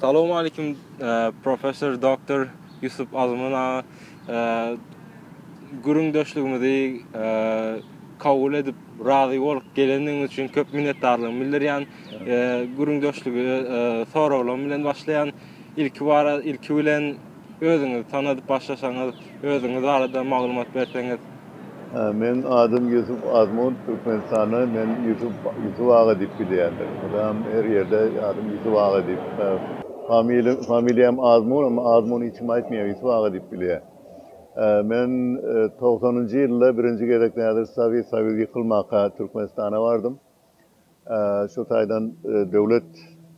Salowmaleýkim professor Doctor Ýusup Azman aga gürüňdeşligimizi kabul edip razy bolup gelendigiňiz üçin köp minnetdarlygymy bildirýän gürüňdeşligi soraglarym bilen başlaýan ilki bilen Özüňizi tanadyp başlasaňyz, özüňiz barada maglumat berseňiz. Meniň adym Ýusup Azmund, Türkmenistanda meni Ýusup, Ýusup aga diýip bilýärler. Mydam her ýerde adym Ýusup aga diýip, familiýa, familiýam Azmun, emma Azmun hiç kim aýtmaýar, Ýusup aga diýip bilýär. Men togsanynjy ýylda birinji gezek nädip Sowet Soýuzy ýykylmaka Türkmenistana bardym. Şu taýdan döwlet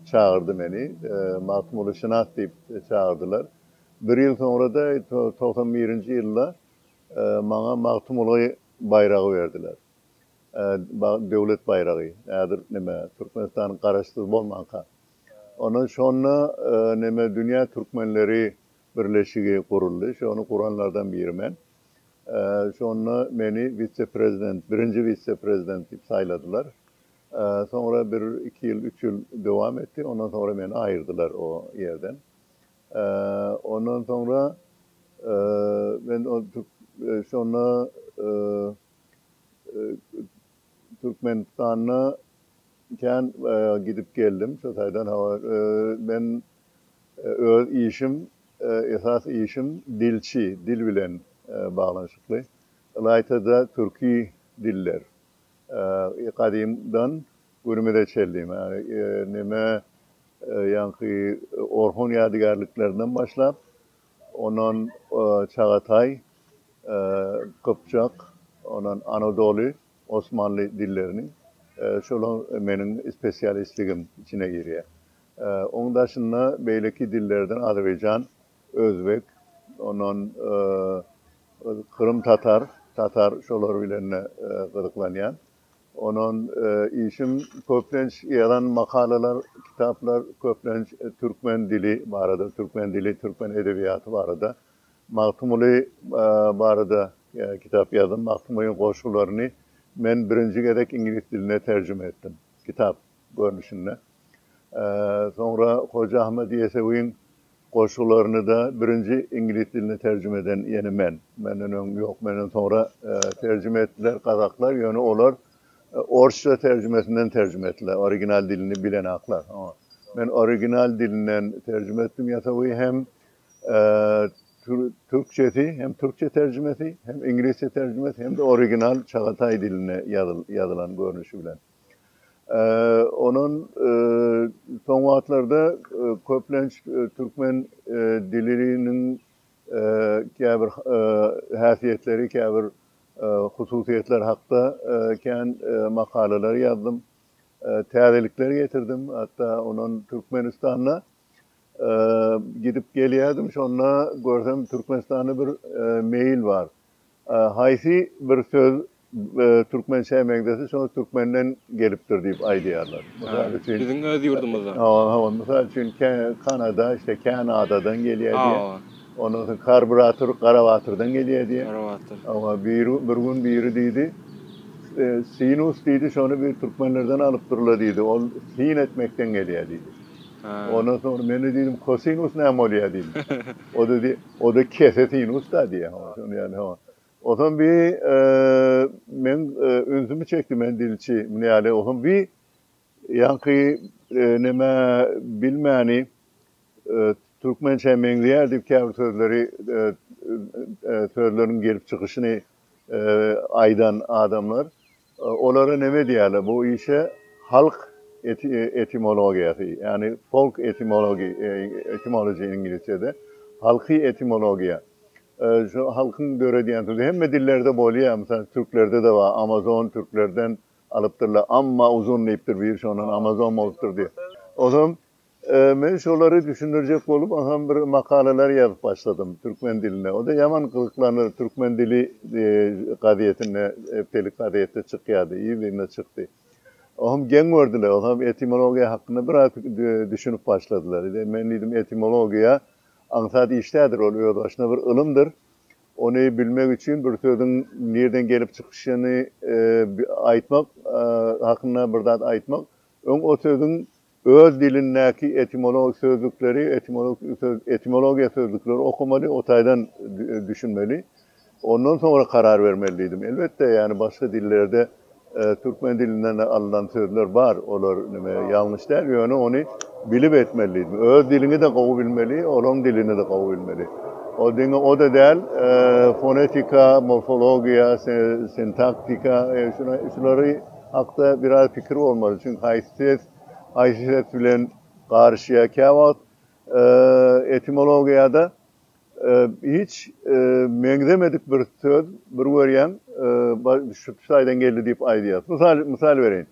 çagyrdy meni. Magtymguly şynas diýip çagyrdylar. Bir ýyl soňra-da, togsan birinji ýylda maňa Magtymguly baýragy berdiler. Döwlet baýragy. Häzir näme, Türkmenistan garaşsyz bolmanka. Ondan şonda näme dünýä türkmenleri birleşigi guruldy. Şony guranlardan biri men. Şonda meni wise-prezident, birinji wise-prezident diýip saýladylar. Soňra bir iki ýyl, üç ýyl dowam etdi. Ondan soňra meni aýyrdylar o ýerden. Ondan soňra men şonda Türkmenistanda kän gidip geldim. Şo taýdan hawa men öz işim, esas işim dilçi, dil bilen baglanyşykly. Ylaýta-da türki diller. Gadymdan günümize çenli neme ýaňky Orhon ýadygärliklerinden başlap, Ondan Çagataý, Gypjak, ondan Anadoly, Osmanly dillerini, şolar meniň spesialistligim içine girýär. Oň daşynda beýleki dillerden Azerbaýjan, Özbek, ondan Krym tatar, tatar şolar bilen-de gyzyklanýan. Ondan işim köplenç ýazan makalalar, kitaplar köplenç türkmen dili barada, türkmen dili, türkmen edebiýaty barada. Magtymguly barada kitap ýazdym. Magtymgulyň goşgularyny men birinji gezek iňlis diline terjime etdim. Kitap. görnüşinde. Soňra Hoja Ahmet Ýesewiň goşgularyny-da birinji iňlis diline terjime eden ýene men. Menden öň ýok, menden soňra terjime etdiler gazaklar, ýöne olar orsça terjimesinden terjime etdiler, original dilini bilenaklar. Men original dilinden terjime etdim Ýesewi hem türkçesi, hem türkçe terjimesi, hem iňlisçe terjimesi, hem-de original çagataý dilinde ýazylan görnüşi bilen. Ondan soň wagtlarda köplenç türkmen diliniň käbir häsiýetleri, käbir hususyýetleri hakda kän makalalar ýazdym. Täzelikler getirdim. Hatda ondan Türkmenistanda gidip gelýärdim, şonda görsem Türkmenistanda bir mail bar. Haýsy bir söz türkmençä meňzese, şol türkmenden gelipdir diýip aýdýarlar. Mysal üçin. Biziň öz ýurdumyzdan. Hawa, hawa. Mysal üçin, kä, Kanada, işte, Känadadan gelýär diýýär. Hawa. Ondan soň karbrator, Garabatyrdan gelýär diýýär. Garabatyr. Hawa, biri, bir gün biri diýdi, Sinus diýdi, şony bir türkmenlerden alypdyrlar diýdi. Ol sin etmekden gelýär diýdi. Ondan soň men-de diýdim, Kosinus näme bolýar diýdim. O-da diýdi, Oda kese sinus da diýýär howa şony ýaly howa. Otam bi meň ünsümi çekdi men dilçi muny ýaly otam bi ýaňky neme bilmäni türkmençä meňzeýär diýip käbir sözleri sözleriň gelip çykyşyny aýdan adamlar Olara neme diýerler bu işe halk etimologiýasy ýagny folk etimology etymology iňlisçede halky etimologiýa şu halkyň döredýän sözi hemme dillerde bolýa mysal türklerdede bar amazon türklerden alypdyrlar amma uzun diýipdir biri şondan amazon bolupdyr diýip ozon Men şolary düşündirjek bolup aňam bir makalalar ýazyp başladym türkmen dilinde. O-da ýaman gyzyklandyr, Türkmen dili gazetinde, hepdelik gazetde çykýardy, ýyl ýylyna çykdy. Oňam geň gördiler, oňam etimologiýa hakynda biraz düşünip başladylar. Men diýdim, etimologiýa aňsat iş däldir, ol özbaşyna bir ylymdyr. Ony bilmek üçin bir sözüň nireden gelip çykyşyny aýtmak hakynda bir zat aýtmak, öň o sözüň Öz dilindäki etimologik sözlükleri, etimologiýa sözlükleri okamaly, o taýdan düşünmeli. Ondan soňra karar bermeli diýdim. Elbetde, ýagny başga dillerde türkmen dilinden alnan sözler bar, olar näme, ýalňyş däl, ýöne ony bilip etmeli diýdim. Öz diliňi-de gowy bilmeli, olaryň dilini-de gowy bilmeli. O diňe o-da däl, fonetika, morfologiýa, sintaktika, şulary. hakda biraz pikir bolmaly, çünki haýsy ses haýsy ses bilen garyşýar. Käwagt etimologiýada hiç meňzemedik bir söz bir görýäň şu taýdan geldi diýip aýdýar. Mysal mysal bereýin.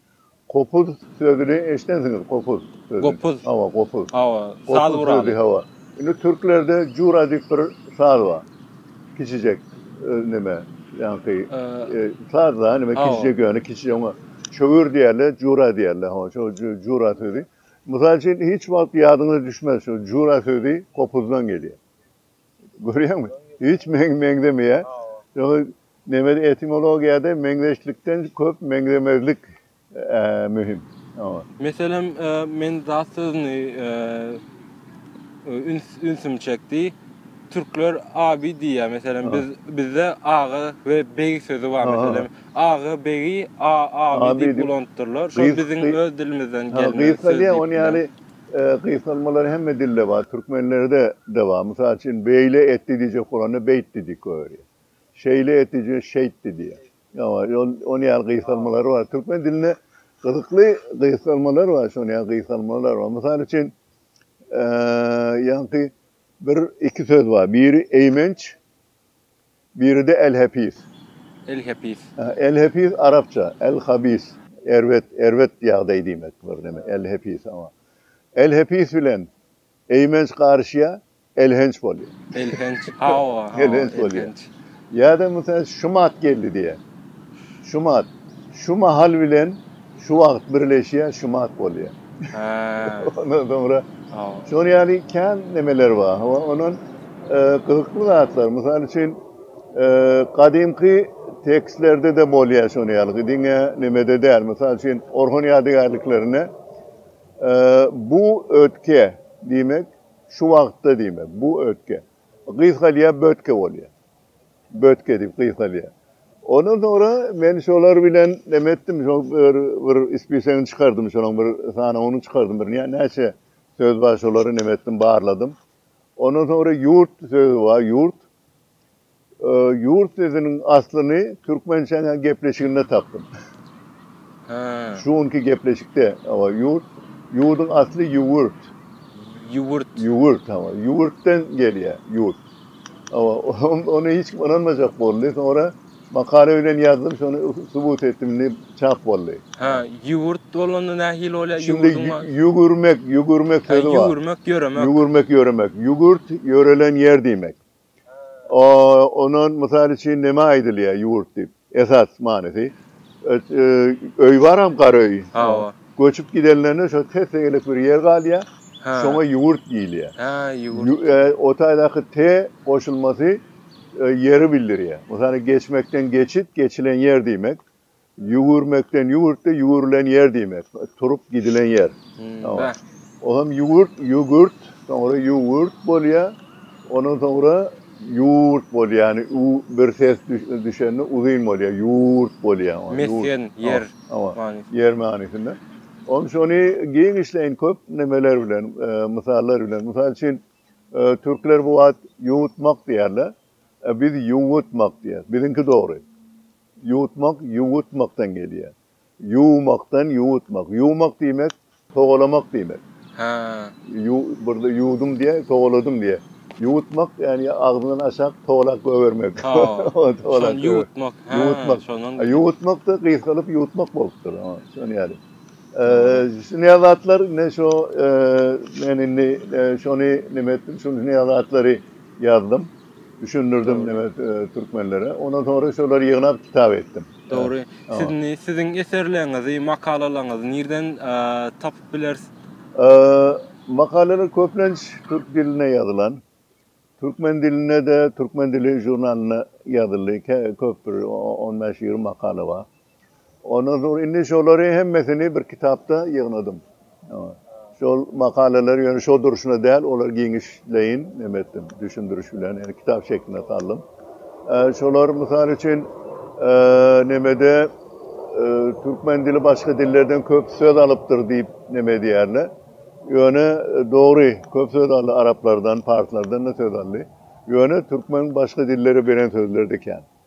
Kopuz sözüni eşidensiňiz, kopuz sözüni. Gopuz. Hawa, gopuz. Hawa, saz guraly. Hawa. Indi türklerde jura diýip bir saz bar. Kiçijek neme ýaňky saz da neme kiçijek ýöne kiçi oňa çöwür diýerler, jura diýerler. Ho, şo jura sözi. Mysal üçin hiç wagt ýadyňyza düşmez şu jura sözi gopuzdan gelýär. Görýäňmi? Hiç meňzemeýär. Ýöne neme etimologiýada meňzeşlikden köp meňzemezlik möhüm. Meselem, men zat sözüni ünsüm çekdi. Türkler abi diýýär. Meselem, biz bizde aga we beg sözi bar. Meselem, aga, begi a, abi diýip ulanypdyrlar. Şol biziň öz dilimizden gelme söz. Gysga diýen ony ýaly gysgalmalar hemme dilde bar, türkmenlerde-de bar. Mysal üçin, beýle etdi diýjek bolanda beýtdi diýip goýberýär. Şeýle etdi diýjek, şeýtdi diýýär. Hawa, ýol ony ýaly gysgalmalar bar. Türkmen dilinde gyzykly gysgalmalar bar, şony ýaly gysgalmalar bar. Mysal üçin, eee, ýaňky bir, iki söz bar. Biri eýmenç, biri-de el-hepis. El-hepis. El-hepis arapça, el-habis, erbet, erbet ýagdaý diýmek bir neme, el-hepis, hawa. El-hepis bilen Eýmenç garyşýar, elhenç bolýar. Elhenç, hawa, hawa, elhenç. Ýa-da mysal şumat geldi diýýär. Şumat, şu mahal bilen şu wagt birleşýär, şumat bolýar. Hä. Ondan soňra, hawa. Şol ýaly kän nemeler bar. Hawa, onuň gyzykly zatlar, mysal üçin, gadymky tekstlerde-de bolýar şonuň ýaly, diňe nemede däl, mysal üçin, Orhon ýadygärliklerinde. Bu ötke, diýmek, şu wagtda diýmek. Bu ötke. Gysgalýar, bötke bolýar. Bötke diýip gysgalýar. Ondan soňra men şolar bilen neme etdim, şol bir, bir ispisegini çykardym, şonuň bir sanawyny çykardym, bir näçe söz bar, şolary neme etdim, barladym. Ondan soňra ýurt sözi bar, ýurt. Ýurt sözüniň aslyny Türkmençäň gepleşiginde tapdym. Şu günki gepleşikde owa ýurt ýurduň asly ýüwürt. Ýüwürt. Ýüwürt hawa. Ýüwürtden gelýär ýurt. Owa ony hiç kim ynanmajak boldy. Soňra makala bilen ýazdym şony subut etdim indi çap boldy. Hä ýüwürt bolanda nähili bolýar ýurduň asly. Şindi ýüwürmek ýüwürmek sözi bar. Ýüwürmek ýöremek. Ýüwürmek ýöremek. Ýüwürt ýörelen ýer diýmek. Ondan mysal üçin näme aýdylýar ýurt diýip? Esas manysy öý baram gara öý. Göçüp gidenlerine şo tes-tegelek bir ýer galýar. Şoňa ýurt diýilýär. Hä, ýurt. O taýdaky te goşulmasy ýeri bildirýär. Mysal geçmekden geçit, geçilen ýer diýmek. Ýüwürmekden, ýüwürtde ýüwürilen ýer diýmek. Turup gidilen ýer. O hem ýüwürt, ýügürt, soňra ýüwürt bolýar. Ondan soňra ýurt bolýar. Ýagny bir ses düşende uzyn bolýar. Ýurt bolýar. Mesgen, ýer manysynda. Ýer manysynda. Onuň üçin ony giňişleýin köp nemeler bilen, mysallar bilen. Mysal üçin, türkler bu wagt ýuwutmak diýerler. Biz ýuwutmak diýýäs. Biziňki dogry. Ýuwutmak ýuwutmakdan gelýär. Ýuwmakdan ýuwutmak. Ýuwmak diýmek, togalamak diýmek. Hä. Burada ýuwdum diýýär, togaladym diýýär. Ýuwutmak, ýagny agzyňdan aşak togalak goýbermek. Şony ýuwutmak. Hä. Şondan. Ýuwutmak-da gysgalyp ýuwutmak bolupdyr. Şony ýaly. Şuny zatlar indi şo men indi şony nime etdim, şuny zatlary ýazdym. Düşündirdim neme türkmenlere. Ondan sonra şolar ýygnap kitap etdim. Dogry. Sizni, siziň eserleriňizi, makalalaryňyzy nirden tapyp bileris? Makalalar köplenç türk dilinde ýazylan. Türkmen dilinde-de Türkmen dili žurnalynda ýazyldy. Köpdür, on bäş-ýigrimi makala bar. Ondan soň indi şolary hemmesini bir kitapda ýygnadym. Şol makalalar ýöne şol durşuna däl, olar giňişleýin neme etdim, düşündiriş bilen, ýöne kitap şekline saldym. Şolar mysal üçin nemede türkmen dili başga dillerden köp söz alypdyr diýip neme edýärler. Ýöne dogry, köp söz aldy araplardan, parslardan da söz aldy. Ýöne türkmen başga dillere beren sözleri de kän.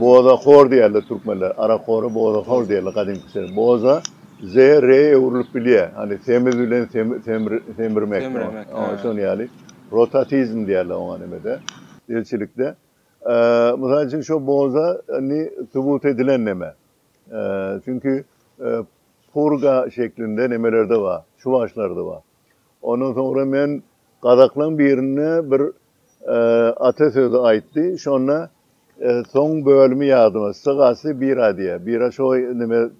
Boza hor diýerler türkmenler. Arak hory boza hor diýerler gadymky söz. Boza ze re öwrülip bilýär. Hany semiz bilen semirmek. Şonuň ýaly. Rotatizm diýerler oňa nimede, ilçilikde. Mysal üçin şo boza indi subut edilen neme. Çünki purga şeklinde nemelerde bar. Çuwaşlarda bar. Ondan soňra men gazaklaň birinde bir Ata sözi aýtdy. Şonda soň bölümi ýadyma sygasy bira diýýär. Bira şo neme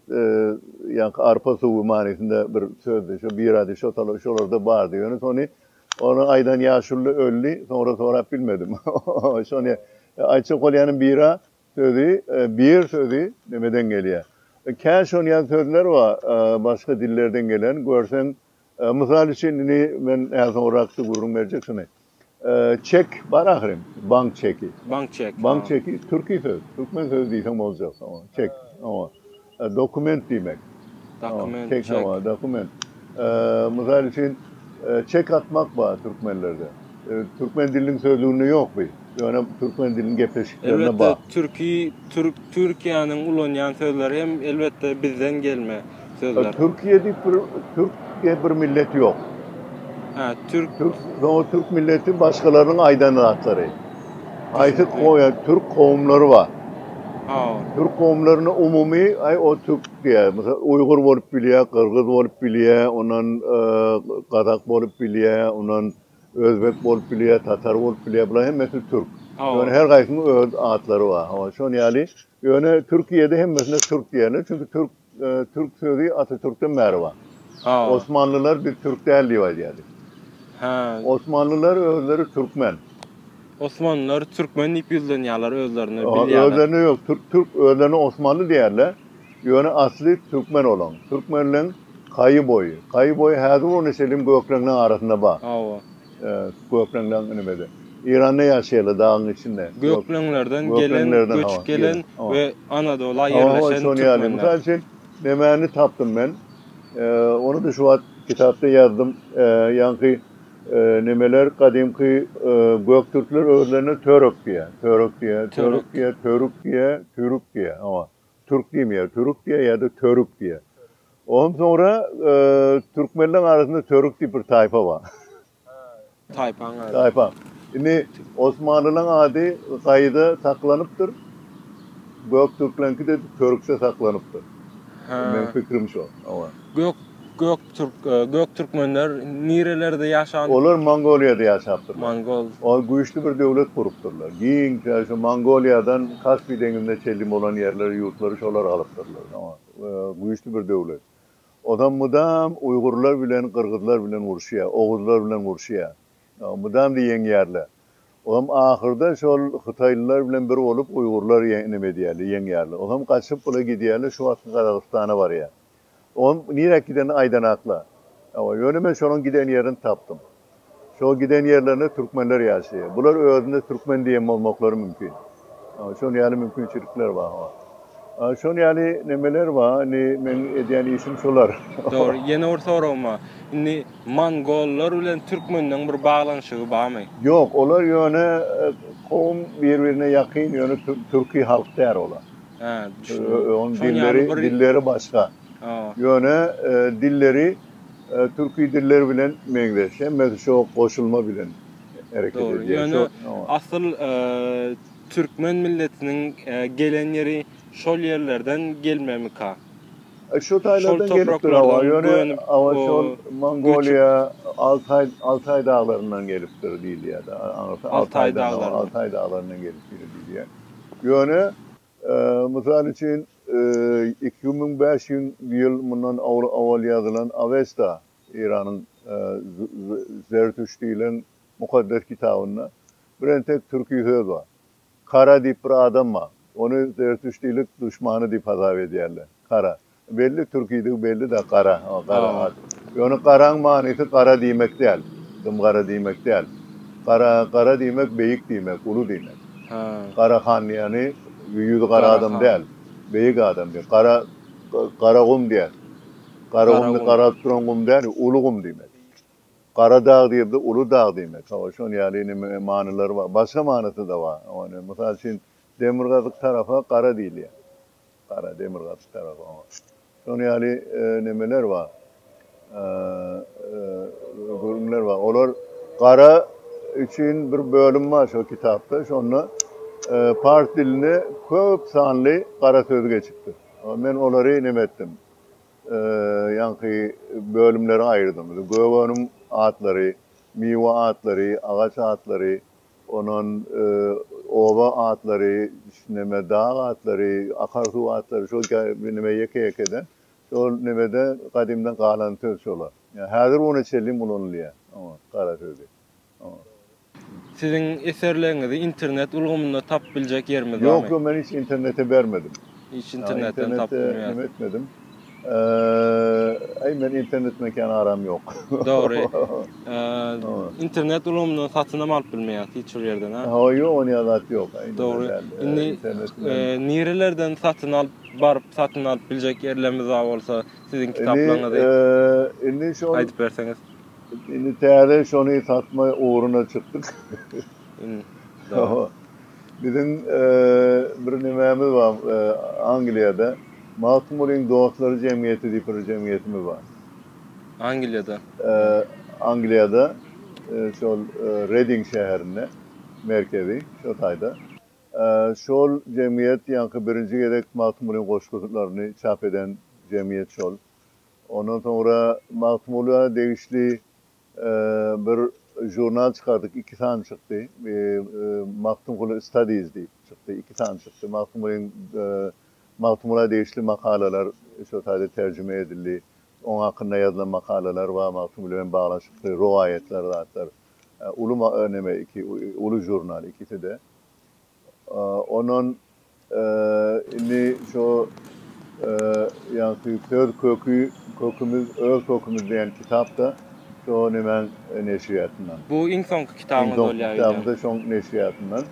ýaňky arpa suwy manysynda bir sözdi. Şo bira diýip şo tala şolarda bardy. Ýöne sony ony aýdan ýaşuly öldi. Soňra sorap bilmedim. Şony aýtjak bolýanym bira sözi bir sözi nemeden gelýär. Kä şon ýaly sözler bar başga dillerden gelen görseň Mysal üçin, indi men näme soňrakda gürrüň berjek şuny. Çek bar ahyryn, bank çeki. Bank çeki. Bank çeki türki söz, türkmen sözi diýseň boljak. Çek. Dokument diýmek. Dokument, çek. Çek, dokument. Mysal üçin, çek atmak bar türkmenlerde. Türkmen diliniň sözlüginde ýok bu. Ýöne türkmen diliniň gepleşiklerinde bar. Elbetde türki, türk, Türkiýäniň ulanýan sözleri hem elbetde bizden gelme sözler. Türkiýe diýip bir türk diýip bir millet ýok. Hä, türk. Türk, o türk milleti başgalaryň aýdan zatlary. Aýdyp goýa türk kowumlary bar. Ha. Türk kowumlaryny umumy aý o türk diýär. Mysal uýgur bolup bilýär, gyrgyz bolup bilýär, ondan gazak bolup bilýär, ondan Özbek bolup bilýär, tatar bolup bilýär, bular hemmesi türk. Ýöne her gaýsynyň öz atlary bar. Hawa, şon ýaly. Ýöne Türkiýede hemmesine türk diýerler, çünki türk türk sözi Atatürkden bäri bar. Osmanlylar biz türk däl diýip aýdýardy. Hä. Osmanlylar özleri türkmen. Osmanlylar türkmen diýip ýüzlenýärler özlerine, bilýärler. Özlerine ýok, türk türk özlerine osmanly diýerler. Ýöne asly türkmen olaň. Türkmenleň Kaýy boýy. Kaýy boýy häzir bolany şeliň gökleňleň arasynda bar. Hawa. Gökleňleň nimede. Eýranda ýaşaýarlar dagyň içinde. Gökleňlerden gelen, göçüp gelen we Anadola ýerleşen türkmenler. Mysal üçin nemäni tapdym men. Ony-da şu wagt kitapda ýazdym. Ýaňky Nemeler gadymky göktürkler özlerine törük diýýär. Törük diýýär, törük diýýär, törük diýýär, türük diýýär. Hawa. Türk diýmeýär, türük diýýär ýa-da törük diýýär. Ondan soňra türkmenleriň arasynda törük diýip bir taýpa bar. Taýpaň ady. Taýpa. Indi osmanlylaryň ady gaýyda saklanypdyr. Göktürkleriňki-de törükde saklanypdyr. Meniň pikrim şo. Hawa. Gök Göktürk Göktürkmenler nirelerde ýaşan? Olar Mongoliýada ýaşapdyrlar. Mongol. Olar güýçli bir döwlet gurupdyrlar. Giň tä şu Mongoliýadan Kaspi deňizine çenli bolan ýerleri ýurtlary şolar alypdyrlar. Soňa güýçli bir döwlet. Ozam mydam uýgurlar bilen gyrgyzlar bilen uruşýar. Oguzlar bilen uruşýar. Mydamda ýeňýärler. Ozam ahyrda şol hytaýlylar bilen bir bolup uýgurlar ýe neme edýärler ýeňýärler. Ozam gaçyp bula gidýärler şu wagtky Gazagystana barýar. Onuň niräk gidenini aýdanakla. Ýöne men şonuň giden ýerini tapdym. Şo giden ýerlerinde türkmenler ýaşaýar. Bular özüne türkmen diýen bolmaklary mümkin. Şonuň ýaly mümkinçilikler bar. Şonuň ýaly nemeler bar. Indi meň edýän işim şular. Dogry. Ýene bir soragym bar. Indi mongollar bilen türkmenleň bir baglanyşygy barmy? Ýok. Olar ýöne kowum bir-birine ýakyn, ýöne türki halk däl olar. Hä, düşündim. Onuň dilleri, dilleri başga. Ýöne dilleri türki diller bilen meňzeş. Hemmesi şo goşulma bilen hereket edýär. Ýöne asyl türkmen milletiniň gelen ýeri şol ýerlerden gelmemika? Şo taýlardan gelipdir hawa. Ýöne hawa şol Mongoliýa, Altaý, Altaý daglaryndan gelipdir diýilýär-de. Altaý daglaryndan gelipdir diýilýär. Ýöne, mysal üçin, iki müň bäş ýüz ýyl mundan owal ýazylan Awesta, Eýranyň Zertüş diýlen mukaddes kitabynda bir entek türki söz bar. Kara diýip bir adam bar. Ony zertüştilik duşmany diýip hasap edýärler. Kara. Belli türkidigi bellida gara gara at. Ýöne garaň manysy gara diýmek däl. Dym gara diýmek däl. Gara gara diýmek beýik diýmek, uly diýmek. Gara han diýeni ýüzi gara adam däl. Beýik adam diýen. Gara gara gum diýen. Gara gum diýen garalyp duran gum däl, uly gum diýmek. Gara dag diýibdi, uly dag diýmek. Hawa, şon ýaly neme manylary bar. Başga manysy-da bar. Ony, mysal üçin, demirgazyk tarapa gara diýilýär. Gara demir gaty tarap oňa. Şonuň ýaly nemeler bar. Gürünler bar. Olar gara üçin bir bölüm bar şol kitapda. Şonda pars diline köp sanly gara söz geçipdir. Men olary neme etdim. Ýaňky bölümlere aýyrdym. Gögeniň atlary, miwe atlary, agaç atlary, Ondan oba atlary, neme, dag atlary, akar suw atlary şol neme ýeke-ýekeden şol nemede gadymdan galan söz şolar. Ýa häzir güne çenlem ulanylýar. Oňa gara sözi. Oňa. Siziň eserleriňizi internet ulgamynda tapyp biljek ýerimiz barmy? Ýok, ýok, men hiç internete bermedim. Hiç internetden tapylmaýar. Internetde neme etmedim. Eee, men internet mekany aram ýok. Dogry. Eee, internet ulgamyndan satynam alyp bilmeýäs hiç bir ýerden, ha? Hawa, ýok, ony ýazat ýok. Dogry. Indi nirelerden satyn alyp, baryp satyn alyp biljek ýerlerimiz bar bolsa, siziň kitaplaryňyzy. Indi şol aýdyp berseňiz. Indi täze şony satma ugruna çykdyk. Indi. Hawa. Biziň bir nimämiz bar Angliýada, Magtymgulyň dostlary jemgyýeti diýip bir jemgyýetimiz bar. Angliýada? Angliýada, şol Reding şäherinde, merkezi şo taýda. Şol jemgyýet ýaňky birinji gezek Magtymgulyň goşgularyny çap eden jemgyýet şol. Ondan soňra Magtymgula degişli Bir žurnal çykardyk, iki sany çykdy. Magtymguly Studies diýip çykdy, iki sany çykdy. Magtymgulyň, Magtymgula degişli makalalar şol taýda terjime edildi. Oň hakynda ýazylan makalalar bar, Magtymguly bilen baglaşykly rowaýatlar, zatlar. Uly neme, iki uly žurnal ikisi-de. Ondan Indi şu ýagty söz köki, kökümiz, öz kökümiz diýen kitap-da şo nemäň neşriýatyndan. Bu iň soňky kitabyňyz bolýar öýdýän. Iň soňky kitabym-da şoň neşriýatyndan.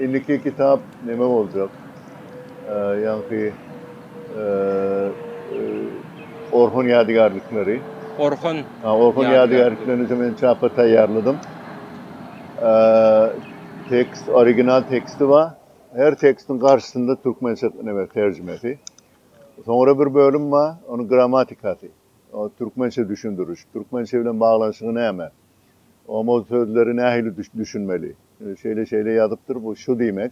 Indiki kitap neme boljak? Ýagty Orhon ýadygärlikleri. Orhon. Ha, Orhon ýadygärliklerini şu men çapa taýýarladym. Tekst, original teksti bar. Her tekstiň garşysynda türkmençe neme terjimesi. Soňra bir bölüm bar, onuň grammatikasy. O türkmençe düşündiriş. Türkmençe bilen baglanyşygy näme? Omoz sözleri nähili düşünmeli? Şeýle-şeýle ýazypdyr, bu şu diýmek.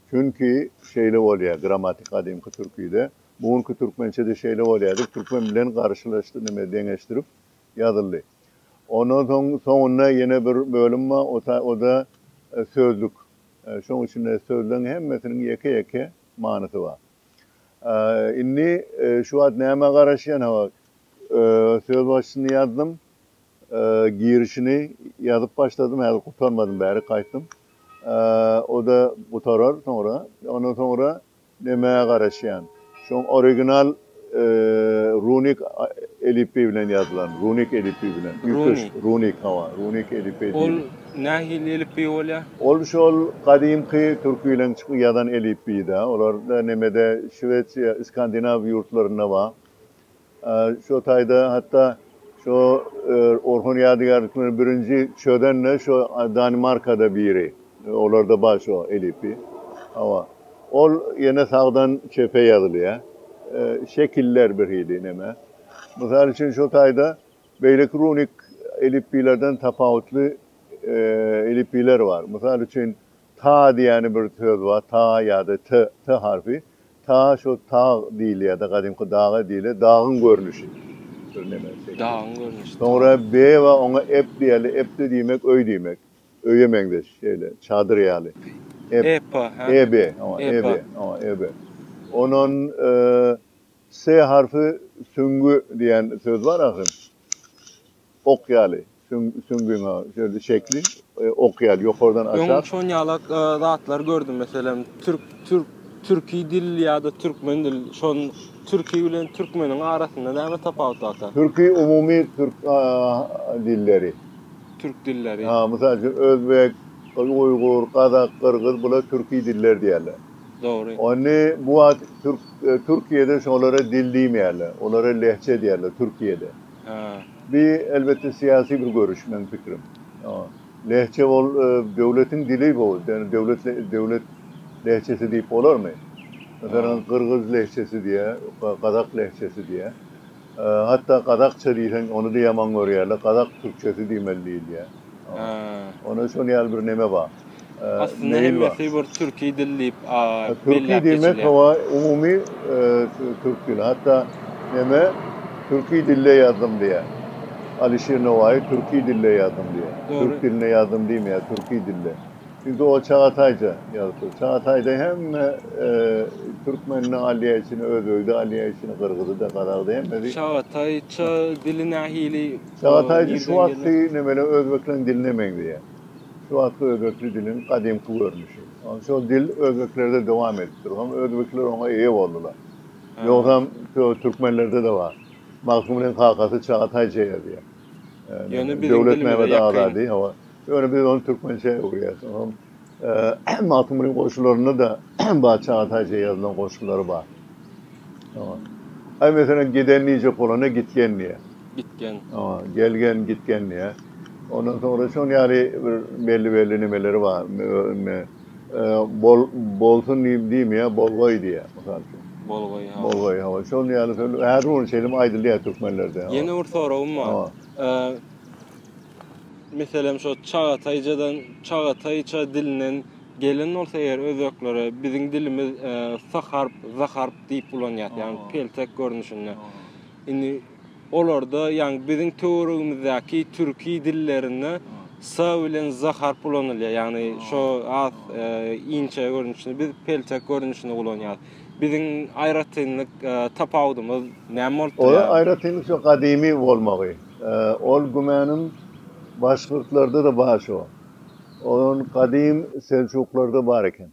Çünki şeýle bolýar, grammatik gadymky türkide, bu günki türkmençede şeýle bolýar diýip, türkmen bilen garyşlaşdy, neme deňeşdirip ýazyldy. Ondan soň soňunda ýene bir bölüm bar, o-da sözlük. Şoň üçin-de sözleň hemmesiniň ýeke-ýeke manysy bar. Indi şu wagt nämä garaşýan? Hawa, söz başyny ýazdym, girişini ýazyp başladym, häzir gutarmadym, bärik gaýtdym. O-da gutarar soňra. Ondan soňra Nämä garaşýan? Şoň original runik elipbiý bilen ýazylan, runik elipbiý bilen. Runik. Runik, hawa, runik elipbiý diýilýär. Ol nähili elipbiý bolýar? Ol şol gadymky türkileriň çyky ýazan elipbiýi-dä. Olar nemede, Şwesiýa, Skandinaw ýurtlarynda bar. Şo taýda hatda şo Orhon ýadygärliklerini birinji çözen-de şo Danimarkada biri. Olarda bar şo elipbiý. Hawa. Ol ýene sagdan çepe ýazylýar. Şekiller birhili neme. Mysal üçin şo taýda beýleki runik elipbiýlerden tapawutly elipbiýler bar. Mysal üçin Ta diýýäni bir söz bar, ta ýa-da t, t harpy. Ta şo tag diýilýär-de, gadymky daga diýilýär, dagyň görnüşi, bir näme şekili. Dagyň görnüşi. Soňra be bar, oňa ep diýerler, ep-de diýmek öý diýmek. Öýe meňzeş, şeýle, çadyr ýaly. Ep. Ep, hä. Eb, oňa eb, oňa eb. Onon s harpy süňňi diýýän söz bar ahyryn. Ok ýaly, süňňüňe şeýle şekli ok ýaly ýokardan aşak. Öň şonýalak zatlar gördüm, meselem, türk, türk, türki dil ýa-da türkmen dil, şon türki bilen türkmeniň arasynda näme tapawut barka? Türki umumy türk dilleri. Türk dilleri. Ha, mysal üçin, özbek, uýgur, gazak, gyrgyz bular türki diller diýerler. Dogry. Ony bu wagt türk, Türkiýede şolara dil diýmeýärler, olara lehçe diýerler Türkiýede. Bu elbetde syýasy bir görüş meň pikirim. Lehçe ol döwletiň dili bu. Ýöne döwlet döwlet lehçesi diýip bolarmy? Meselem gyrgyz lehçesi diýe, gazak lehçesi diýe. Hatda gazakça diýseň ony-da ýaman görýärler. Gazak türkçesi diýmeli diýilýä. Onda şol ýaly bir neme bar. Aslynda hemmesi bir türki dil diýip belläp geçilýär. Türki diýmek hawa umumy türk dili. Hatda neme türki dilde ýazdym diýýär. Alişir Nowaýy türki dilde ýazdym diýýär. Türk dilinde ýazdym diýmeýär, türki dilde. Çünki o çagataýja ýazypdyr. Çagataýda hemme türkmenini alýar içine, özbegi-de alýar içine, gyrgyzy-da, gazagy-da hemmesi. Çagataýça dili nähili? Çagataý şu wagtky nemele özbekleň diline meňzeýär. Şu wagtky özbekli diliň gadymky görnüşi. Şol dil özbeklerde dowam edip dur. Hom özbekler oňa eýe boldular. Ýogsam türkmenlerde-de bar. Magtymgulyň kakasy Çagataý Çeýe-diýen. Döwletmämmet Azady, hawa. Ýöne biz ony türkmençä öwürýäs. Magtymgulyň goşgularynda-da Batyşaga taýça ýazylan goşgulary bar. Aý, meselem, Giden diýjek bolanda gitgen diýýär. Gitgen. Gelgen, gitgen diýýär. Ondan soňra şol ýaly bir belli-belli nemeleri bar. Bol, bolsun diýip diýmeýär, bolgaý diýýär, mysal üçin. Bolgaý, hawa. Bolgaý, hawa. Şol ýaly söz häzir-ol şeýle aýdylýar türkmenlerde. Ýene bir soragym bar. Meselem şo Çagataýjadan Çagataýça dilinden gelen bolsa eger özbeklere biziň dilimiz s harp z harp diýip ulanýas ýagny peltek görnüşinde. Indi olarda ýagny biziň töweregimizdäki türki dillerinde s bilen z harp ulanylýar ýagny şo has inçe görnüşinde biz peltek görnüşinde ulanýas. Biziň aýratynlyk tapawudymyz näme bolup durýar? Onda aýratynlyk şo gadymy bolmagy. Ol gümänim başgyrtlarda-da bar şo. Olam gadym seljuklarda bar eken.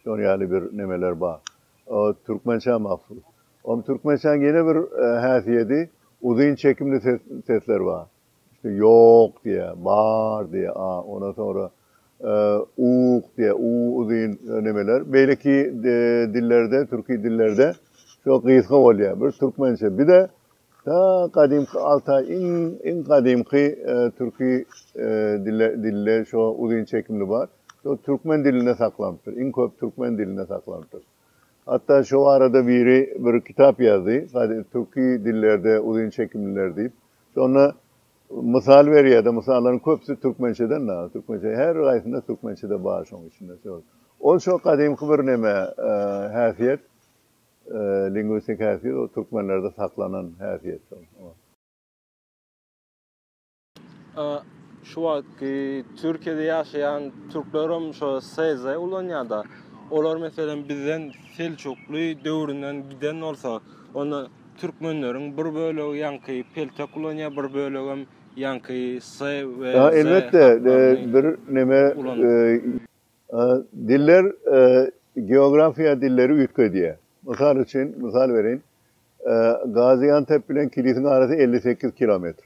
Şol ýaly bir nemeler bar. O türkmençä mahsus. Olam türkmençäň ýene bir häsiýedi, uzyn çekimli sesler bar. Şte ýok diýä, bar diýä, a, ondan soňra ug diýä, u uzyn nemeler. Beýleki dillerde, türki dillerde şo gysga bolýa. Bir türkmençe, bir-de Ta gadymky Altaý iň gadymky türki dilde şo uzyn çekimli bar. Şo türkmen dilinde saklanypdyr. Iň köp türkmen dilinde saklanypdyr. Hatda şo arada biri bir kitap ýazdy, Türki dillerde uzyn çekimliler diýip. Şonda mysal berýärdi. Mysallaryň köpüsi türkmençeden dagy. Türkmençe her gaýsynda türkmençede bar şoň içinde. Ol şo gadymky bir neme häsiýet. Lingwistik häsiýet ol türkmenlerde saklanan häsiýet. Şu wagtky Türkiýede ýaşaýan türklerem şo SZ ulanýada. Olar meselem bizden Seljukly döwründen giden bolsa, onda türkmenleriň bir bölegi ýaňky peltek ulanýar, bir bölegem ýaňky S we Z harplaryny ulanýar. Diller geografiýa dilleri üýtgedýär. Mysal üçin, mysal bereýin, Gaziantep bilen Kilisiň arasy elli sekiz kilometr.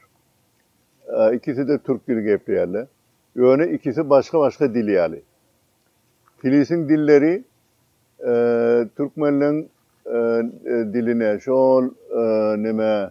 Ikisi-de türk dili gepleýärler. Ýöne ikisi başga-başga dil ýaly. Kilisiň dilleri türkmenleň diline, şol neme,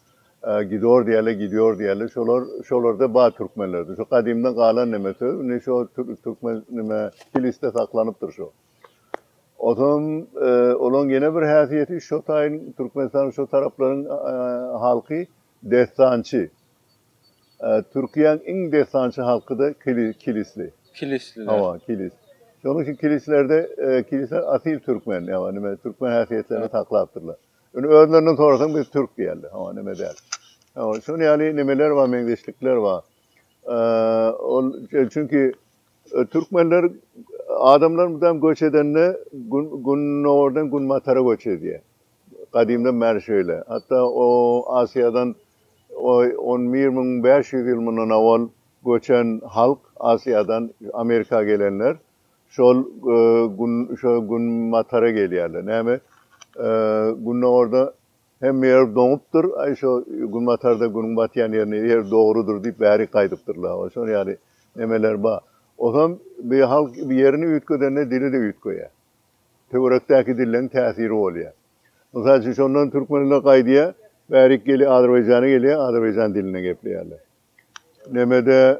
Gidor diýerler, gidior diýerler. Şolar, şolarda bar türkmenlerde. Şo gadymdan galan neme söz. Indi şo türkmen neme kilisde saklanypdyr şo. Onsoň olaň ýene bir häsiýeti şo taýyn Türkmenistanyň şo taraplaryň halky dessançy. Türkiýäň iň dessançy halky-da kilisli. Kilisliler. Hawa, kilis. Şonuň üçin kilislerde kilisler asyl türkmen, ýagny neme türkmen häsiýetlerini saklapdyrlar. Indi özlerinden sorasaň biz türk diýerler. Hawa neme däl. Hawa şonuň ýaly nemeler bar, meňzeşlikler bar. Ol çünki e, türkmenler adamlar mudam göç edende gündogardan günbatara göç edýär. Gadymdan bäri şeýle. Hatda o Asiýadan 11500 ýyl mundan owal göçen halk Asiýadan Amerika gelenler Şol gün şo gün matara gelýärler. Näme gündogarda hemme ýer doňupdyr, aý şo günbatarda günüň batýan ýerine ýer dogrudyr diýip bärik gaýdypdyrlar. Wa şol ýaly nemeler bar. Osam bi halk ýerini üýtgedende dili-de üýtgeýär. Töwerekdäki dilleň täsiri bolýar. Mysal üçin şondan türkmenler gaýdýar, bärik gelýär Azerbaýjana gelýär, Azerbaýjan dilinde gepleýärler. Nämede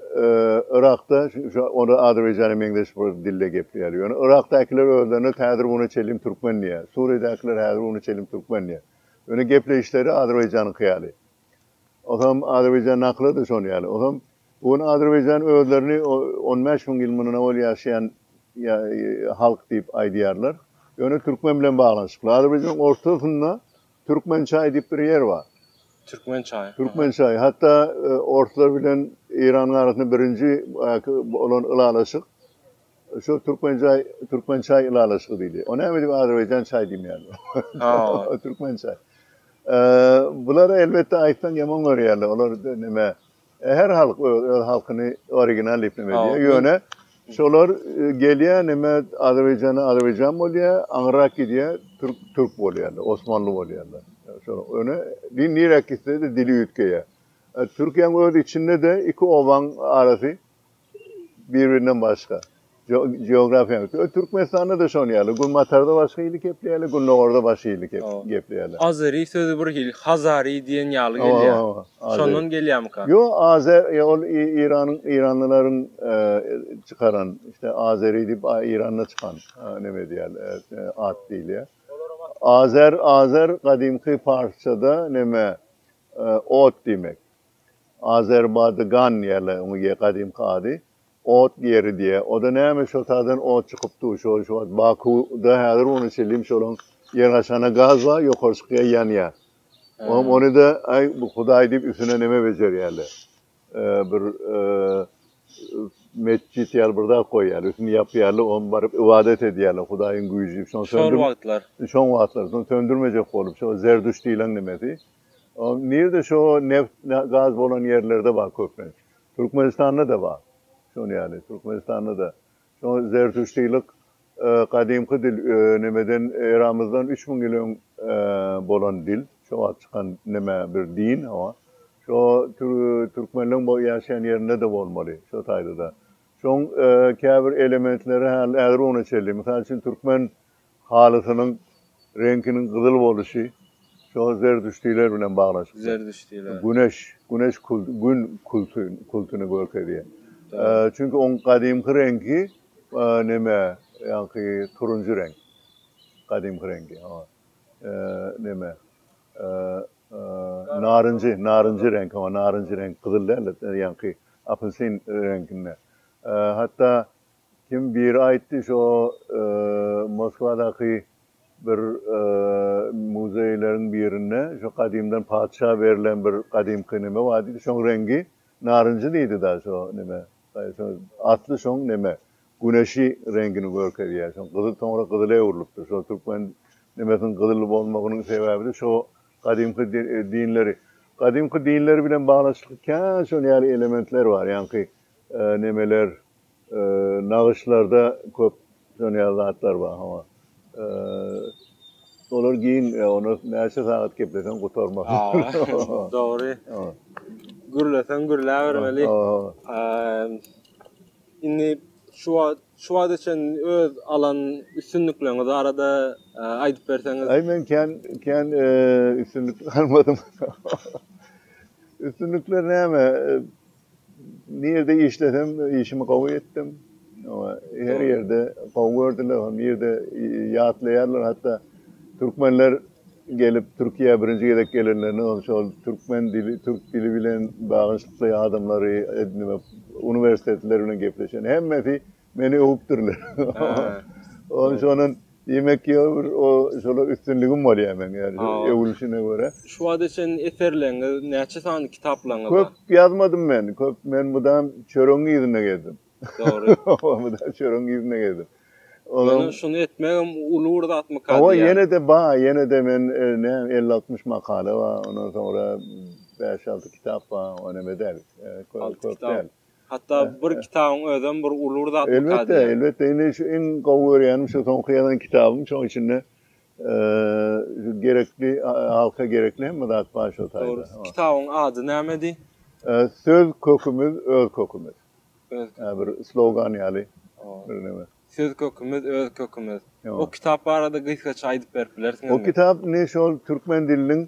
Yrakda onda Azerbaýjana meňzeş bir dilde gepleýärler. Ýöne Yrakdakylar özlerine häzir güne çenli türkmen diýýär. Suriýadakylar häzir güne çenli türkmen diýýär. Ýöne gepleýişleri Azerbaýjanyňky ýaly. Otam Azerbaýjan nakyly-da şon ýaly. Otam bu gün Azerbaýjan özlerini on bäş müň ýyl mundan owal ýaşaýan halk diýip aýdýarlar. Ýöne türkmen bilen baglanyşykly. Azerbaýjanyň ortasynda Türkmen çaýy diýip bir ýer bar. Türkmen çaýy. Türkmen çaýy. Hatda orslar bilen Eýranyň arasynda birinji bolan ylalaşyk şu türkmen çaý, türkmen çaý ylalaşygy diýdi. O näme diýip azerbaýjan çaý diýmeýärler. Ha, türkmen çaý. Eee, bular elbetde aýtsaň ýaman görýärler. Olar näme, Her halk öz öz halkyny original diýip neme edýär. Ýöne şolar e, gelýär neme Azerbaýjana Azerbaýjan bolýar, aňyrak gidýär türk türk bolýarlar, osmanly bolýarlar. Şolar öne din nirek gitse-de dili üýtgeýär. E, Türkiýäň öz içinde-de iki obaň arasy Bir-birinden başga. Geografiýa. Türkmenistanda-da şonuň ýaly. Günbatarda başga hili gepleýärler, gündogarda başga hili gepleýärler. Azery sözi bir hili, hazary diýen ýaly gelýär. Şondan gelýärmika? Ýok, azer, ol Eýranyň, eýranlylaryň çykaran, işte, azery diýip, Eýranda çykan, näme edýär, at diýilýär. Azer, azer, gadymky parsçada näme, ot diýmek. Azerbady gan diýýärler oňa ýe gadymky ady. Ot ýeri diýýä. Oda näme şo taýdan ot çykyp dur şo şo wagt Baku da häzir ony çelim şolaň ýer aşagynda gaz bar ýokary çykýa ýanýa. Oňam ony da aý bu hudaý diýip üstüne neme bejerýärler. Eee bir eee metjit ýaly bir zat goýýarlar üstüni ýapýarlar oňa baryp ybadat edýärler hudaýyň güýji diýip şony söndür Şol wagtlar. Şoň wagtlar şony söndürmejek bolup şo zerdüş diýlen nemesi. Nirde şo neft gaz bolan ýerlerde bar köplenç. Türkmenistanda-da bar. Şon ýaly Türkmenistanda-da şo zertuştilik gadymky dil nemeden eramyzdan üç müň ýyl öň bolan dil. Şo wagt çykan neme bir din hawa. Şo türkmenleň ýaşaýan ýerinde-de bolmaly şo taýda-da. Şoň käbir elementleri häli ägir güne çenli. Mysal üçin türkmen Halysynyň reňkiniň gyzyl boluşy şo zerdüştiler bilen baglaşykly. Zerdüştiler. Güneş, güneş kult, gün kulty, kultyny görkezýär. Çünki oň gadymky reňki neme, ýaňky turunjy reňk. Gadymky reňki, hawa. Neme, narynjy, narynjy reňk, hawa, narynjy reňk, gyzyl däl-de, ýaňky apelsin reňkinde. Hatda Kim biri aýtdy şo Moskwadaky bir muzeýleriň birinde şo gadymdan patyşa berlen bir gadymky neme bar diýdi şoň reňgi narynjy diýdi da şo neme asly şoň neme güneşi reňgini görkezýär şoň gyzyl soňra gyzyla öwrülipdir şo türkmen nemesiniň gyzyl bolmagynyň sebäbide şo gadymky dinleri gadymky dinleri bilen baglanyşykly kän şol ýaly elementler bar ýaňky nemeler Nagyşlarda köp döneýän zatlar bar hama. Olar giň, ony näçe sagat gepleseň gutarmaz. Dogry. Gürleseň gürläbermeli. Indi şu wagt, şu wagta çenli öz alan üstünlikleriňiz barada aýdyp berseňiz. Aý men kän, kän üstünlik almadym. Üstünlikler näme? Nirde işlesem işimi gowy etdim. Her ýerde gowy gördüler, hany nirde ýatlaýarlar hatda türkmenler gelip Türkiýä birinji gezek gelenlerinde hem şol türkmen dili, türk dili bilen baglanyşykly adamlary edinmek, uniwersitetler bilen gepleşen hemmesi Meni öwüpdirler. Ol şondan diýmek ýa bir o şola üstünligim bolýar meň ýa-da öwülişine görä. Şu wagta çenli eserleriňiz, näçe sany kitaplaryňyz bar? Köp ýazmadym men. Köp men mydam çöregiň yzyna gezdim. Dogry. Mydam çöregiň yzyna gezdim. Ýöne şuny etmegem uly bir zatmyka diýýän. Hawa, ýene-de bar, ýene-de men näme elli-altmyş makala bar, ondan soňra bäş-alty kitap bar, o näme däl. Köp däl. Hatda bir kitabyň özem bir uly bir zatmyka diýýän. Elbetde, elbetde. Indi şu iň gowy görýänim şu soňky ýazan kitabym. Şoň içinde gerekli, halka gerekli hemme zat bar şo taýda. Dogry. Kitabyň ady nämedi? Söz kökümiz, öz kökümiz. Öz kökümiz. Bir slogan ýaly bir neme. Söz kökümiz, öz kökümiz. O kitap barada gysgaça aýdyp berip bilersiňizmi? O kitap indi şol türkmen diliniň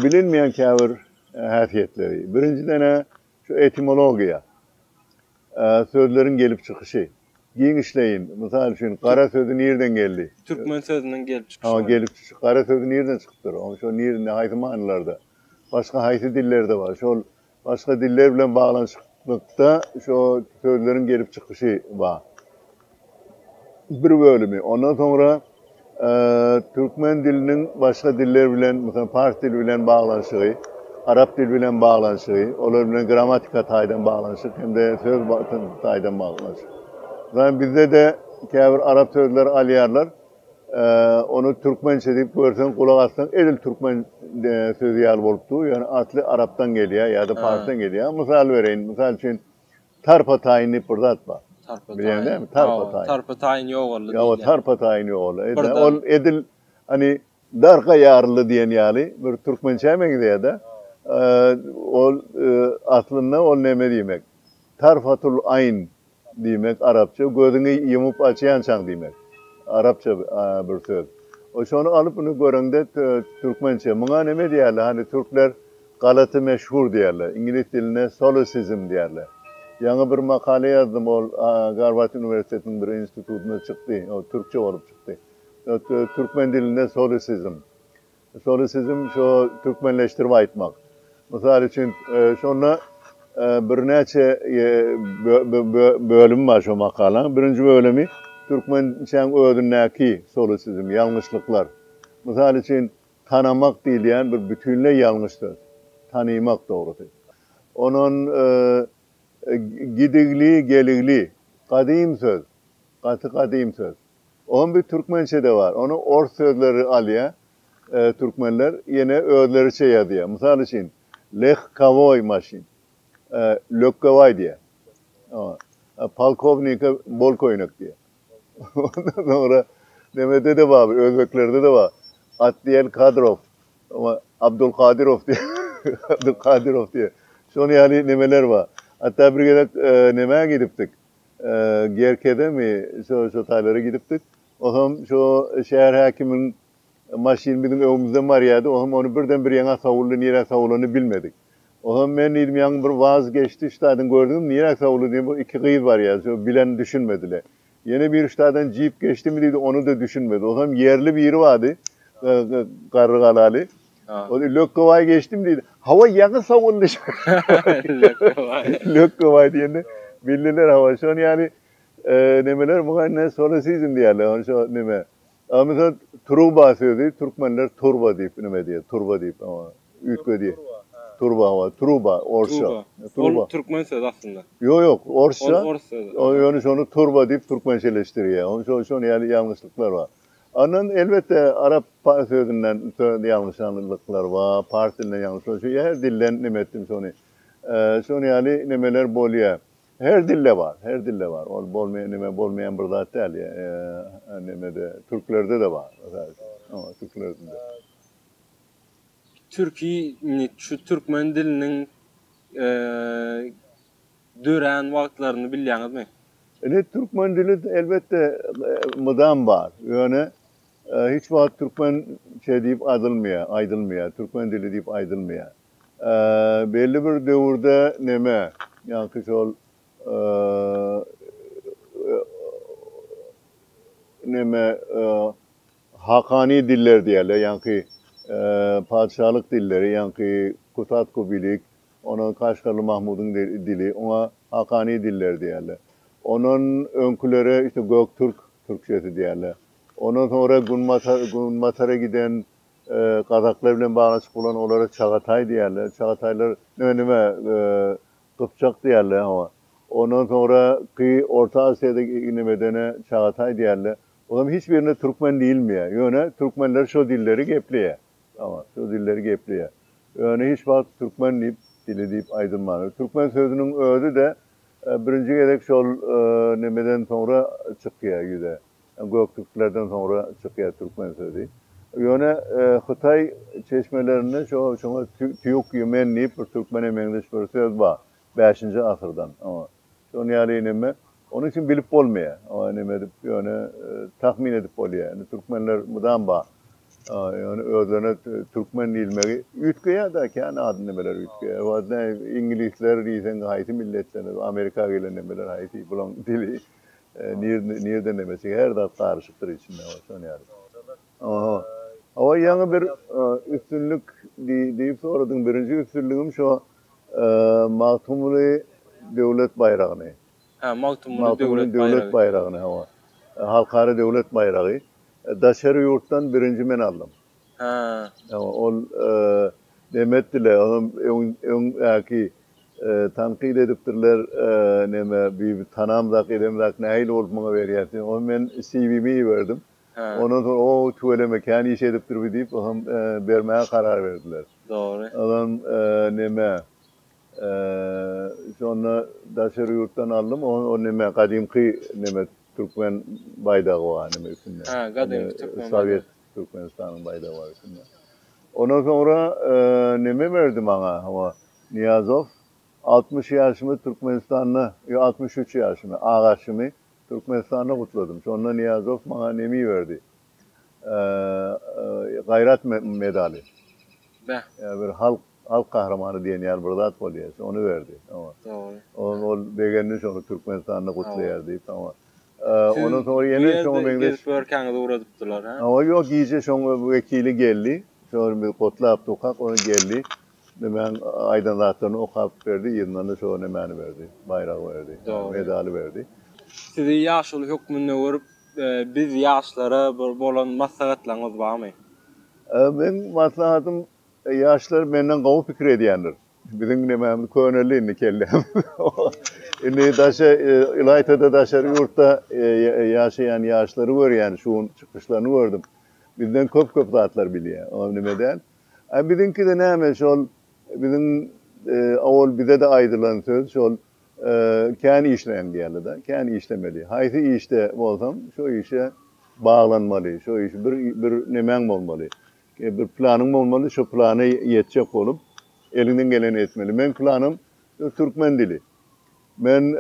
bilinmeýän käbir häsiýetleri. Birinjiden-ä Şu etimologiýa, sözleriň gelip çykyşy, giňişleýin. Mysal üçin, gara sözi nirden geldi? Türkmen sözüniň gelip çykyşy bolar. Gelip çykyşy. Gara sözi nirden çykypdyr? Onuň şo nirinde, haýsy manylarda? Başga haýsy dillerde bar? Şol başga diller bilen baglanyşyklykda şo sözleriň gelip çykyşy bar. bir bölümi, ondan soňra türkmen diliniň başga diller bilen, meselem, pars dili bilen baglanyşygy, arap dili bilen baglanyşygy, olar bilen grammatika taýdan baglanyşyk hem-de söz taýdan baglanyşyk. Ýöne bizde-de käbir arap sözleri alýarlar, ony türkmençe diýip görseň, gulak assaň, edil türkmen sözi ýaly bolup dur, ýöne asly arapdan gelýär ýa-da parsdan gelýär. Mysal bereýin, mysal üçin, Tarpa taýyn diýip bir zat bar. Tarpa Bilýäň dämi? Tarpa taýyn. Tarpa taýyn ýogaldy. Ýa o tarpa taýyn ýogaldy. Ol edil hani darga ýaryldy diýen ýaly bir türkmençä meňzeýär-de. Ol aslynda ol näme diýmek? Tarfatul aýn diýmek arapça gözüňi ýumup açýançaň diýmek. Arapça bir söz. Şony alyp indi göreňde türkmençe. Muňa näme diýerler? Hani türkler Galaty meşhur diýerler. Iňlis dilinde solecism diýerler. Ýaňy bir makala ýazdym, ol Garward uniwersitetiniň bir institutynda çykdy. Ol türkçe bolup çykdy. Türkmen dilinde solecism. Solecism şo türkmenleşdirip aýtmak. Mysal üçin, şonda birnäçe bölüm bar şo makalanyň. Birinji bölümi türkmençäň özündäki solecism, ýalňyşlyklar. Mysal üçin, Tanamak diýilýän bir bütinleý ýalňyş söz. Tanymak dogrusy. Onon gidigli, geligli. Gadym söz. Gaty gadym söz. Oňam bir türkmençede bar. Ony ors sözleri alýa türkmenler ýene özleriçe ýazýa. Mysal üçin, lehkowoý maşyn. Lökgewaý diýýä. Polkownike bol köýnek diýýä. Ondan soňra nemede-de bar, özbeklerde-de bar. At diýen Kadrow, oňa Abdulkadirow diýýär, Abdulkadirow diýýär. Şonuň ýaly nemeler bar. Hatda bir gezek nämä gidipdik, Gerkedemi, şo-şo taýlara gidipdik. Oňam şo şäher häkiminiň Maşyn biziň öňümizden barýardy, oňam ony birden bir ýaňa sowuldy, nirä sowulanyny bilmedik. Oňam men diýdim, ýaňy bir waz geçdi, ştadyny gördüňizmi, nirä sowuldy diýdim, bir iki gyz barýardy, şol bilen düşünmedile. Ýene biri ştadan jip geçdimi diýdi, ony-da düşünmedi. Oňam ýerli biri bardy, garry galaly. Ol lökgebaý geçdimi diýdi. Hawa, ýaňy sowuldy. Lökgebaý. Lökgebaý diýende bildiler, hawa, şony ýaly nemeler muňa indi solosizm diýerler, ony şo neme, A mysal truba sözi türkmenler turba diýip nime diýýär, turba diýip üýtgedýär. Turba hawa, truba, orsça. Truba. Ol türkmen sözi aslynda. Ýok, ýok, orsça. Ol ors sözi. Ýöne şony turba diýip türkmençeleşdirýär. Onuň üçin şol ýaly ýalňyşlyklar bar. Ondan elbetde arap sözünden ýalňyşanlyklar bar, pars dilinde ýalňyşlyklar. Şu her dilden nime etdim şony. Şol ýaly nimeler bolýar. Her dilde bar, her dilde bar. Ol bolmaýan neme, bolmaýan bir zat däl. Nemede, türklerde-de bar. Ýa-da türklerde-de. Türki, indi şu türkmen diliniň dörän wagtlaryny bilýäňizmi? Indi türkmen dili elbetde mydam bar. Ýöne hiç wagt türkmen şe diýip adylmaýar, aýdylmaýar. Türkmen dili diýip aýdylmaýar. Belli bir döwürde neme, ýaňky şol neme hakany diller diýerler, ýaňky patyşalyk dilleri, ýaňky Kusat-Kubilik, ondan Kaşgarly Mahmudyň dili, oňa hakany diller diýerler. Ondan öňkülere işte göktürk türkçesi diýerler. Ondan soňra günbatara giden Gazaklar bilen baglaşyk bolan olara çagataý diýerler. Çagataýlar nä nime gypjak diýerler hawa. Ondan soňra ki Orta Aziýada iňlemedene çagataý diýerler. Olam hiç birine türkmen diýilmeýär. Ýöne türkmenler şo dilleri gepleýär. Hawa, şo dilleri gepleýär. Ýöne hiç wagt türkmen diýip dili diýip aýdylmandyr. Türkmen sözüniň özi-de birinji gezek şol nemeden soňra çykýar ýüze. Göktürklerden soňra çykýar türkmen sözi. Ýöne hytaý çeşmelerinde şo şoňa týuk ýumen diýip bir türkmene meňzeş bir söz bar. Bäşinji asyrdan. Şonuň ýaly neme. Onuň üçin bilip bolmaýar. Oňa neme edip ýöne tahmin edip bolýar. Indi türkmenler mydam bar. Ýöne özlerine türkmen diýilmegi üýtgeýär da kän ad nemeler üýtgeýär. Iňlisler diýseň haýsy milletler amerika gelen nemeler haýsy bulaň dili. Nirde nirden demesek her zat garyşykdyr içinde şon ýaly. Aha. Hawa ýaňy bir üstünlik diýip soradyň birinji üstünligim şo Magtymguly döwlet baýragyny. Hä Magtymguly döwlet baýragy. Döwlet baýragyny hawa. Halkara döwlet baýragy. Daşary ýurtdan birinji men aldym. Haa. Ýa-ha, ol neme etdiler, onam öň ýaky tankyt edipdirler, neme Bibi tanamzak, edemzak, nähili bolup muňa berýär sen, onam men CV-mi iberdim. Ondan soň o tüweleme kän iş edipdir bi diýip, onam bermäge karar berdiler. Dogry. Onam neme, şonda daşary ýurtdan aldym, o neme gadymky neme türkmen baýdagy bar neme üstünde. Haa, gadymky türkmen baýdagy. Türkmenistanyň baýdagy bar üstünde. Ondan soňra neme berdi maňa, hawa, Nyýazow, altmyş ýaşymy Türkmenistanda, ýok, altmyş üç ýaşymy, agaçymy Türkmenistanda gutladym. Şonda Nyýazow maňa nemi berdi, Gaýrat medaly. Beh. Ýa bir halk, halk gahrymany diýen ýaly bir zat bolýar, şony berdi. Hawa. Dogry. Ol begendi şony Türkmenistanda gutlaýar diýip, hawa. Siz bu ýerde gezip ýörkäňiz ugradypdylar, hä? Hawa, ýok, gije şoň wekili geldi. Şony biz gotlap durkak, ony geldi. Nämäň aýdan zatlaryny okap berdi, yzyndan-da şo nämäni berdi, baýragy berdi, medaly berdi. Sizi ýaşuly hökmünde görüp, biz ýaşlara bir bolan maslahatlaryňyz barmy? Meň maslahatym Ýaşlar menden gowy pikir edýändir. Biziň nemämiz köneldi indi kellämiz. Indi daşa ylaýta-da daşary ýurtda ýaşaýan ýaşlary görýän şu gün çykyşlaryny gördüm. Bizden köp-köp zatlar bilýär. Olam neme däl. A biziňkide näme şol biziň owal bize-de aýdylan söz şol kän işleýäň diýerli-de. Kän işlemeli. Haýsy işde bolsaň şo işe baglanmaly. Şo işi bir bir nemäň bolmaly. Bir planyň bolmaly, şo plana ýetjek bolup, eliňden geleni etmeli. Meň planym türkmen dili. Men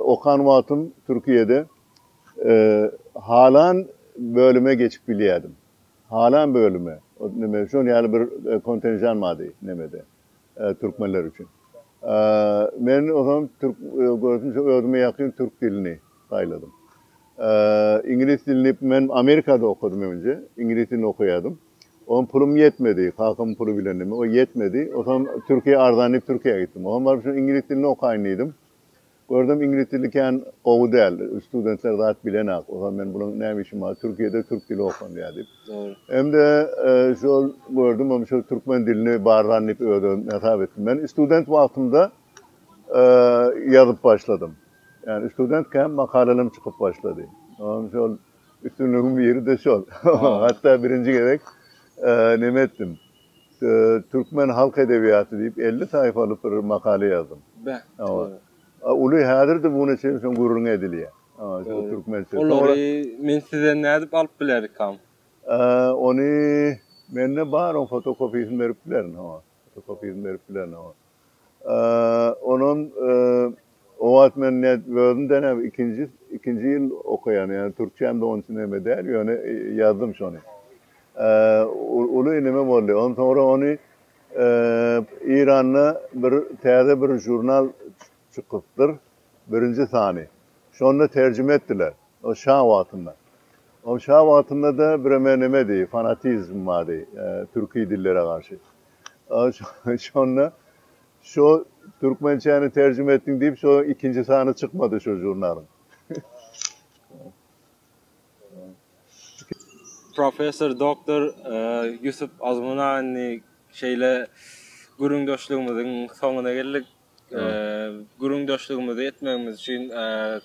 okan wagtym Türkiýede halan bölüme geçip bilýärdim. Halan bölüme, neme, şol ýaly bir kontenjan bardy nemede, Türkmenler üçin. Men ozam türk görsün şo özüme ýakyn türk dilini saýladym. Iňlis dilini men Amerikada okadym öňje. Iňlis dilini okaýadym. Ozam pulum ýetmedi. Kakamyň puly bilendi. Ýetmedi. Ozam Türkiýe arzan diýip Türkiýä gitdim. Ozam baryp şu iňlis dilini okaýyn diýdim. Gördüm iňlis dili kän gowy däl, studentler zat bilenak. Ozal men bulaň näme işim bar, Türkiýede türk dili okanýa diýip. Hem-de şol gördüm hem şol türkmen dilini barlan diýip özüm hasap etdim. Men student wagtymda ýazyp başladym. Ýani student kän makalalarym çykyp başlady. Oňa şol üstünligiň biri-de şol. Hatda birinji gezek neme etdim. Türkmen halk edebiýaty diýip elli saýfalyk bir makala ýazdym. Be. Uly häzir-de bu güne çenli şoň gürrüňi edilýär. Türkmençe. Olary men size nädip alyp bilerikam? Ony mende bar oň fotokopiýasyny berip bilerin. Fotokopiýasyny berip bilerin. Onam o wagt men özümde näme ikinji ikinji ýyl okaýan, ýagny türkçäm de onça näme däl, ýöne ýazdym şony. Uly inime boldy. Ondan soňra ony Eýranda bir täze bir žurnal çykypdyr, birinji sany. Şonda terjime etdiler. O şa wagtynda. O şa wagtynda-da bireme nemedi, fanatizm bardy türki dillere garşy. Şonda şo türkmençäni terjime etdiň diýip şo ikinji sany çykmady şo žurnalyň. Professor Doctor Ýusup Azmunaýny şeýle gürrüňdeşligimiziň soňuna geldik. gürrüňdeşligimizi etmegimiz üçin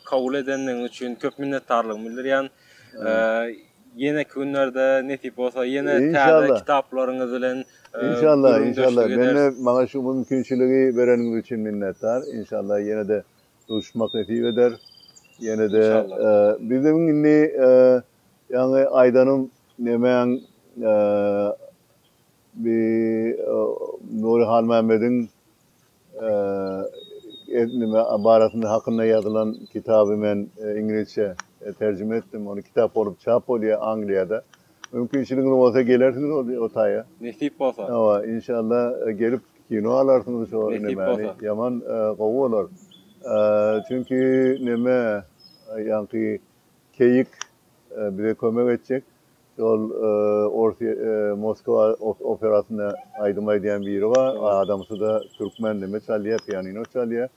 kabul edenligiňiz üçin köp minnetdarlygymy bildirýän. Ýeneki günlerde nesip bolsa ýene täze kitaplaryňyz bilen inşallah inşallah mende maňa şu mümkinçiligi bereniňiz üçin minnetdar. Inşallah ýene-de duşmak nesip eder. Ýene-de biziň indi ýaňy aýdanym nemäň bi Nury Halmämmediň nime barasynda hakynda ýazylan kitaby men iňlisçe terjime etdim. Ony kitap bolup çap bolýar Angliýada. Mümkinçiligiňiz bolsa gelersiňiz ol o taýa. Nesip bolsa. Hawa, inşalla gelip kino alarsyňyz şo nimäni. Ýaman gowy bolar. Çünki neme ýaňky keýik bize kömek etjek. Ol ors Moskwa operasynda aýdym aýdýan biri bar. Adamsyda türkmen neme çalýar, pianino çalýar.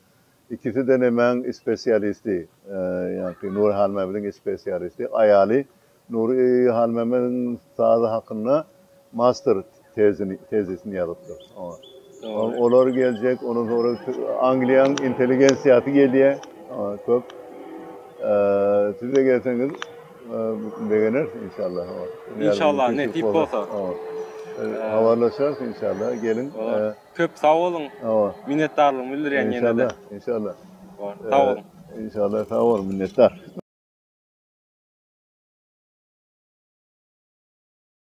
Ikiside nemäň spesialisti, ýagny Nury Halmämmediň spesialisti. Aýaly Nury Halmämmediň sazy hakynda master, tezini, tezisini ýazypdyr. Oňa. Dogry. Olar geljek, ondan soňra Angliýanyň intelligensiýasy gelýär. Oňa köp. Eee, siz-de gelseňiz, eee, begeneris inşallah. Inşallah, nesip bolsa. Habarlaşarys inşallah, geliň. Köp sag boluň. Hawa. Minnetdarlygymy bildirýän ýene-de. Inşallah, inşallah. Sag boluň. Inşallah, sag boluň, minnetdar.